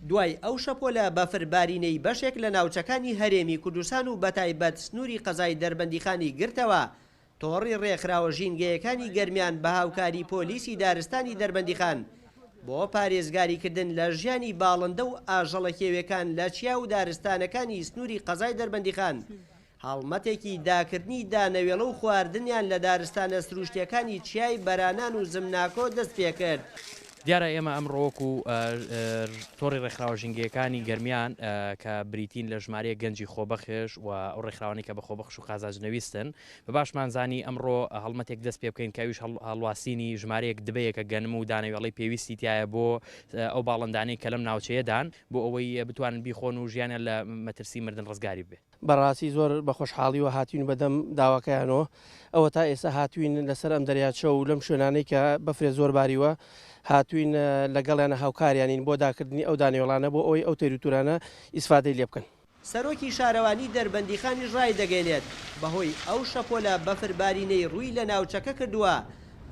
دوای ئەو شەپۆلە بەفربارینەی بەشێک لە ناوچەکانی هەرێمی کوردستان و بەتایبەت سنووری قەزای دەربەندیخانی گرتەوە، تۆڕی ڕێکخراوە ژینگەیەکانی گەرمیان بە هاوکاری پۆلیسی دارستانی دەربەندیخان بۆ پارێزگاریکردن لە ژیانی باڵندە و ئاژەڵە کێویەکان لە چیا و دارستانەکانی سنووری قەزای دەربەندیخان هەڵمەتێکی داکردنی دانەوێڵە و خواردنیان لە دارستانە سرووشتییەکانی چیای بەرانان و زمناکۆ دەست پێ کرد. دیارە ئێمە ئەمڕۆ وەکوو تۆڕی ڕێکخراوە ژینگەیەکانی گەرمیان کە بریتین لە ژمارەیەک گەنجی خۆبەخش و ئەو ڕێکخراوانەی کە بە خۆبەخش و قازانجنەویستن، بە باشمان زانی ئەمڕۆ هەڵمەتێک دەست پێ بکەین کە ئەویش هەڵواسینی ژمارەیەک دبەیە کە گەنم و دانەوێڵەی پێویستی تیایە بۆ ئەو باڵندانەی کە لەم ناوچەیەدان بۆ ئەوەی بتوانن بیخۆن و ژیانیان لە مەترسی مردن ڕزگاری بێ. بەڕاستی زۆر بە خۆشحاڵیوە هاتوین بەدەم داواکەیانەوە ئەوەتا ئێستا هاتوین لەسەر ئەم دەریاچە و لەم شوێنانەی کە بەفرێ زۆر باریوە هاتوین لەگەڵیانە هاوکاریانین بۆ داکردنی ئەو دانیۆڵانە بۆ ئەوەی ئەو تێروتورانە ئیسفادەی لێ بکەن. سەرۆکی شارەوانی دەربەندیخانیش ڕایدەگەینێت، بەهۆی ئەو شەپۆلە بەفر بارینەی ڕووی لە ناوچەکە کردووە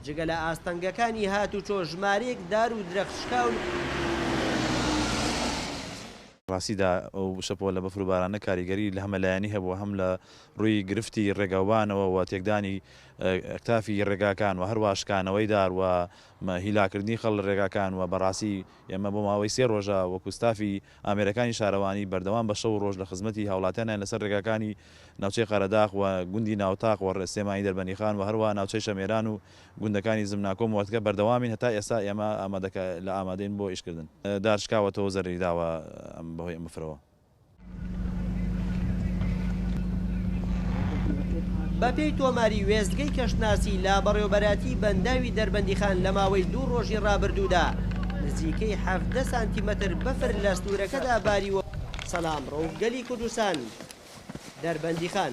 جگە لە ئاستەنگەکانی هاتوچۆ ژمارەیەک دار و درەخت شکاون، ڕاستیدا ئەو شەپۆلە بەفر و بارانە کاریگەری لە هەمە لایەنی هەبووە هەم لە ڕووی گرفتی ڕێگاوبانەوە و تێکدانی ئەکتافی ڕێگاکان و هەروەها شکانەوەی دار و هیلاکردنی خەڵ لە ڕێگاکان و بەڕاستی ئێمە بۆ ماوەی سێ ڕۆژە وەکو ستافی ئامێرەکانی شارەوانی بەردەوام بە شەو و ڕۆژ لە خزمەتی هاوڵاتیانین لەسەر ڕێگاکانی ناوچەی قەرەداخ و گوندی ناوتاق و سلێمانی دەربەندیخان و هەروەها ناوچەی شەمێران و گوندەکانی زمناکۆ و مۆرتگە بەردەوامین هەتا ئێستا ئێمە ئامادەکا لە ئامادەین بۆ ئیشکردن دار شکاوەتەوەو زەرەری داوە بەهۆی ئەم بفرەوە. بەپێی تۆماری وێستگەی کەشناسی لە بەڕێوەبەرایەتی بەنداوی دەربەندیخان لە ماوەی دوو ڕۆژی ڕابردوودا نزیکەی حەڤدە سانتیمەتر بەفر لە سنوورەکەدا باریوە سەلام ڕەوف گەلی کوردستان دەربەندیخان.